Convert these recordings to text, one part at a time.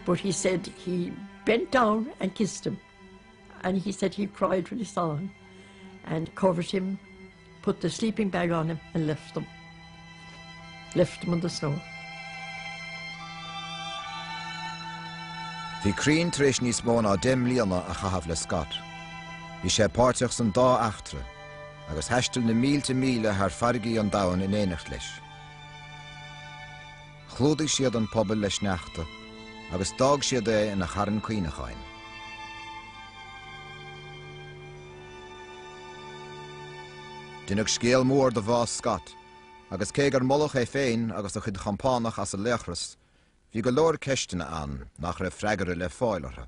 But he said he bent down and kissed him and he said he cried when he saw him and covered him, put the sleeping bag on him and left him. Left him in the snow. Bhí Crean tar éis níos mó ná deich mbliana a chaitheamh le Scott. Bhí sé páirteach san dá eachtra agus thaistil na mílte míle thar farraigí an domhain in éineacht leis. Chlúdaigh siad an puball le sneachta agus d'fhág siad é ina charn cuimhneacháin. Deineadh scéal mór de bhás Scott, agus cé gur moladh é féin agus a chuid chompánach as a laochras, bhí go leor ceisteanna ann nach raibh freagra le fáil orthu.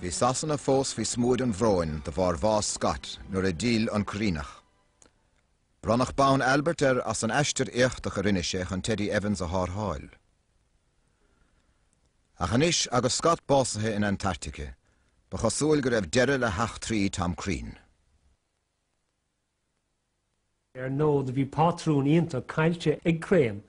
Bhí Sasana fós faoi smúid an bhróin de bharr bhás Scott nuair a d'fhill an Cuiríneach. Bronnadh bonn Albert air as an aistear éachtach a rinne sé chun Teddy Evans a thárrtháil. Ach anois agus Scott básaithe in Antartaice, ba chosúil go raibh deireadh le heachtraí Tom Crean. Ar ndóigh, bhí pátrún iontach caillte ag Crean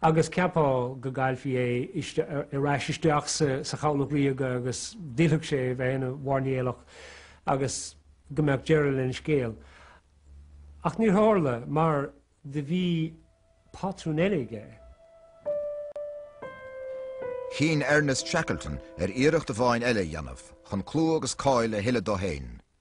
agus cheapfá go gcaillfí é ar ais isteach sa Chabhlach Ríoga agus go bhfillfeadh sé a bheith ina mhairnéalach agus go mbeadh deireadh lena scéal. Ach níor tharla mar do bhí pátrún eile aige. Chinn Ernest Shackleton ar iarracht amháin eile a dhéanamh chun clú agus cáil a thuilleadh dó féin.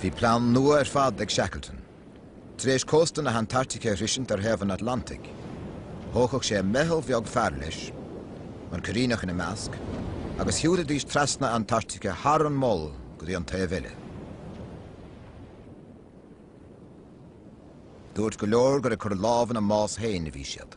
Bhí plean nua ar fad ag Shackleton. Tar éis cósta na hAntartaice a shroisint ar thaobh an Atlantaigh, thógfadh sé meitheal bheag fear leis, an Cuiríneach ina measc, agus shiúilfidís trasna na hAntartaice thar an Mol go dtí an taobh eile. Dúirt go leor gur ag cur lámh ina mbás féin a bhí siad.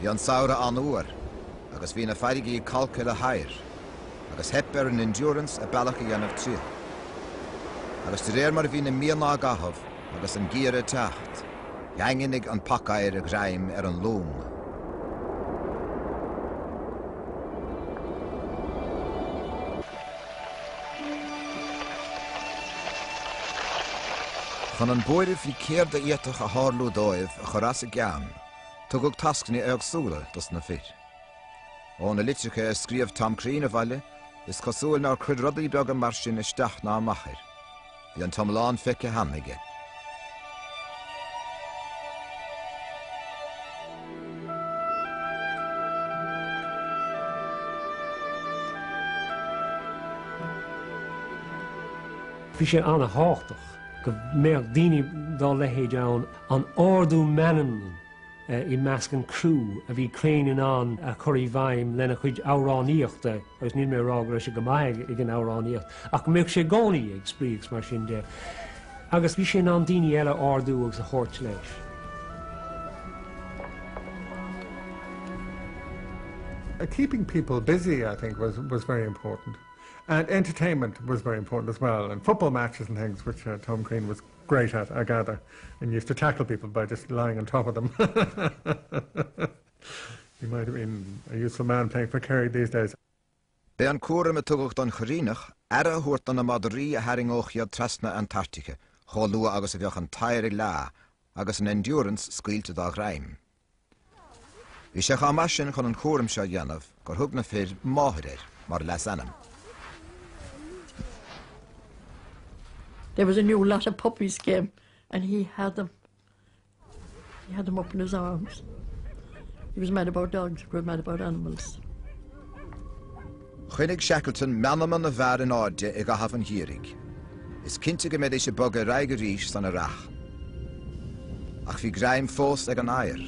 Bhí an samhradh an-fhuar agus bhí na farraigí calctha le hoighear, agus theip ar an Endurance a bealach a dhéanamh tríothu. Agus de réir mar a bhí na míonna á gcaitheamh agus an geimhreadh ag teacht, dhaingnigh an pacoighear a ghreim ar an long. Chun an buaireamh faoi céard a d'fhéadfadh a tharlú dóibh a chur as a gceann, tugadh tascanna éagsúla dos na fir. Ó na litreacha a scríobh Tom Crean abhaile, is cosúil nár chuir rudaí beaga mar sin isteach ná amach air. Bhí an t-iomlán feicthe cheana aige. Bhí sé an-tábhachtach go mbeadh daoine dá leithéid ann, an t-ardú meanman i measc an chrú a bhí Crane in ann a chur i bhfeidhm lena chuid amhránaíochta. Agus níl mé ag rá go raibh sé go maith ag an amhránaíocht, ach go mbíodh sé i gcónaí ag spraoi agus mar sin de. Agus bhí sé in ann daoine eile a ardú agus a thabhairt leis. Uh, keeping people busy, I think, was, was very important. And entertainment was very important as well, and football matches and things, which uh, Tom Crean was great at, I gather, and used to tackle people by just lying on top of them. B'é an cúram a tugadh don Choiríneach aire a thabhairt do na madraí a tharraingeodh iad trasna na hAntartaice chomh luath agus a bheadh an t-oighear ag leá agus an Endurance scaoilte dá ghreim. Bhí sé chomh maith sin chun an cúram seo a dhéanamh gur thug na fir 'Máthair' air mar leasainm. There was a new lot of puppies came and he had them. He had them up in his arms. He was mad about dogs, he was mad about animals. Choinnigh Shackleton meanma na bhfear in airde i gcaitheamh an gheimhridh. Is cinnte go mbeidís ag bogadh ar aghaidh arís san earrach. Ach bhí greim fós ag an oighear.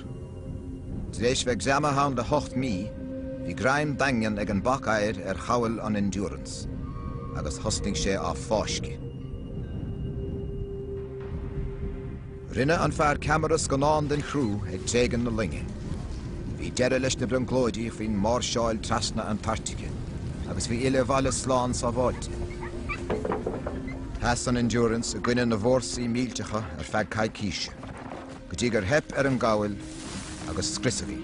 Tar éis bheith greamaithe ann le hocht mí, bhí greim daingean ag an bac oighir ar chabhail an Endurance, agus thosnaigh sé á fáisceadh. Rinne an fear ceamara scannán den chrú ag tréigean na loinge. Bhí deireadh leis na brionglóidí faoin máirseáil trasna Antartaice agus filleadh abhaile slán sábháilte. Sheas an Endurance i gcoinne na bhfórsaí millteacha ar feadh coicíse. go dtí gur theip ar an gcabhail agus scriosadh í.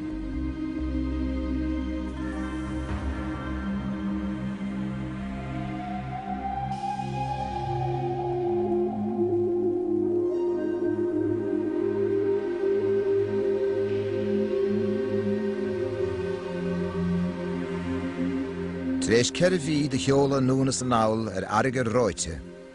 Tar éis ceithre mhí de sheoladh anonn is anall ar fharraige reoite,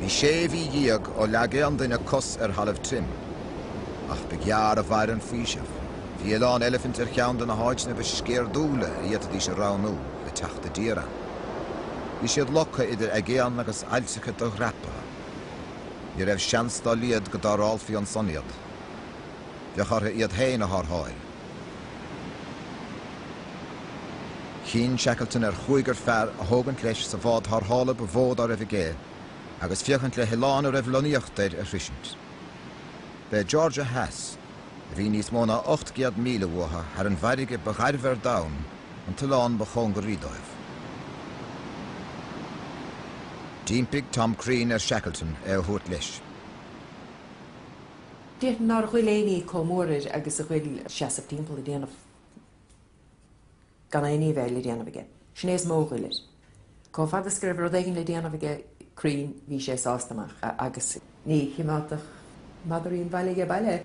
Bhí sé mhí dhéag ó leag aon duine cos ar thalamh tirim. Ach ba ghearr a mhair an faoiseamh. Bhí Oileán Eilifint ar cheann de na háiteanna ba sceirdiúla a fhéadfaidís a roghnú le teacht i dtír ann. Bhí siad lochta idir aigéan agus ailltreacha do-dhreapaithe. Ní raibh seans dá laghad go dtarrthálfaí ansan iad. Bheadh orthu iad féin a tharrtháil. Chinn Shackleton ar chúigear fear a thógaint leis sa bhád tharrthála ba mhó dá raibh aige agus féachaint le hoileán a raibh lonnaíocht air a shroisint. B'é Georgia Theas, a bhí níos mó ná ocht gcéad míle uathu thar an bhfarraige ba ghairbhe ar domhan, an t-oileán ba chóngaraí dóibh. D'impigh Tom Crean ar Shackleton é a thabhairt leis. Deir nár ghoill éinní comh mór air agus a ghoill seasamh timpeall ag déanamh gan éinní a bheith le déanamh aige. Sin é is mó a ghoill air. Comh fada is go raibh rud éigin le déanamh aige Crean bhí sé sásta amach agus. Ní chimeádfadh madraí an bhaile aige baile.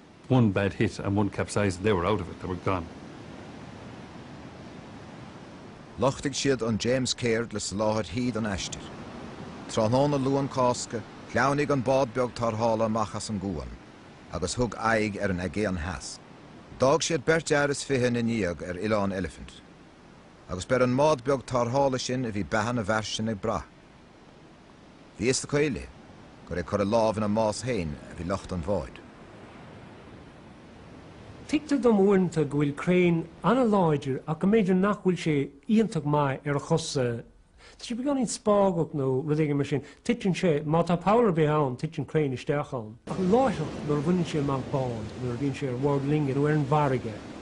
One bad hit and one capsized and they were out of it, they were gone. Lochtaigh siad an James Caird le soláthair thí don aistear. Tráthnóna Luan Cásca, shleamhnaigh an bád beag tarrthála amach as an gcuan agus thug aghaidh ar an Aigéan Theas. D'fhág siad beirt fhear is fiche ina ndiaidh ar Oileán Elephant. Agus b'ar an mbád beag tarrthála sin a bhí beatha na bhfear sin ag brath. Bhí fhios acu uilig gur ag cur a lámh ina mbás féin a bhí lucht an bháid. Tuigtear dom uaireanta go bhfuil Crean an-láidir ach go mb'fhéidir nach bhfuil sé iontach maith ar a chosa. Tá sé beagáinín spágach nó rud éigin mar sin. Titeann sé, má tá poll ar bith ann, titeann Crean isteach ann. Ach láithreach nuair a bhaineann sé amach bád, nuair a bhíonn sé ar bhord loinge nó ar an bhfarraige,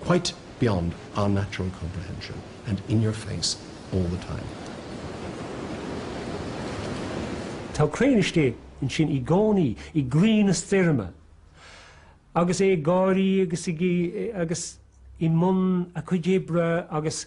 quite beyond our natural comprehension and in your face all the time. Tá Crean istigh ansin i gcónaí, i gcroí na stoirme, agus é ag gáirí agus i mbun a chuid oibre agus.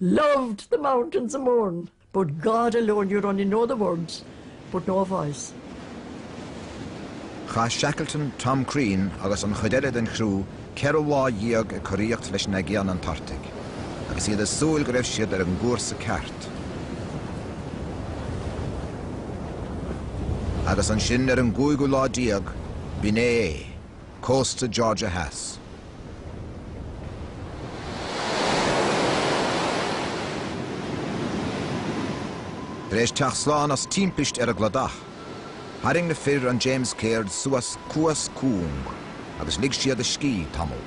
Loved the mountains of Mourne, but God alone you'd only know the words, but no voice. Chaith Shackleton, Tom Crean agus an chuid eile den chriú ceithre lá dhéag ag coraíocht leis an Aigéan Antartach, agus iad ag súil go raibh siad ar an gcúrsa ceart. Agus ansin, ar an gcúigiú lá déag, b'in é é. cósta Georgia Theas. Tar éis teacht slán as timpist ar an gcladach, tharraing na fir an James Caird suas cuas cúng agus lig siad a scíth tamall.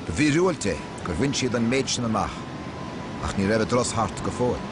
Ba mhíorúilt é gur bhain siad an méid sin amach, ach ní raibh a dturas thart go fóill.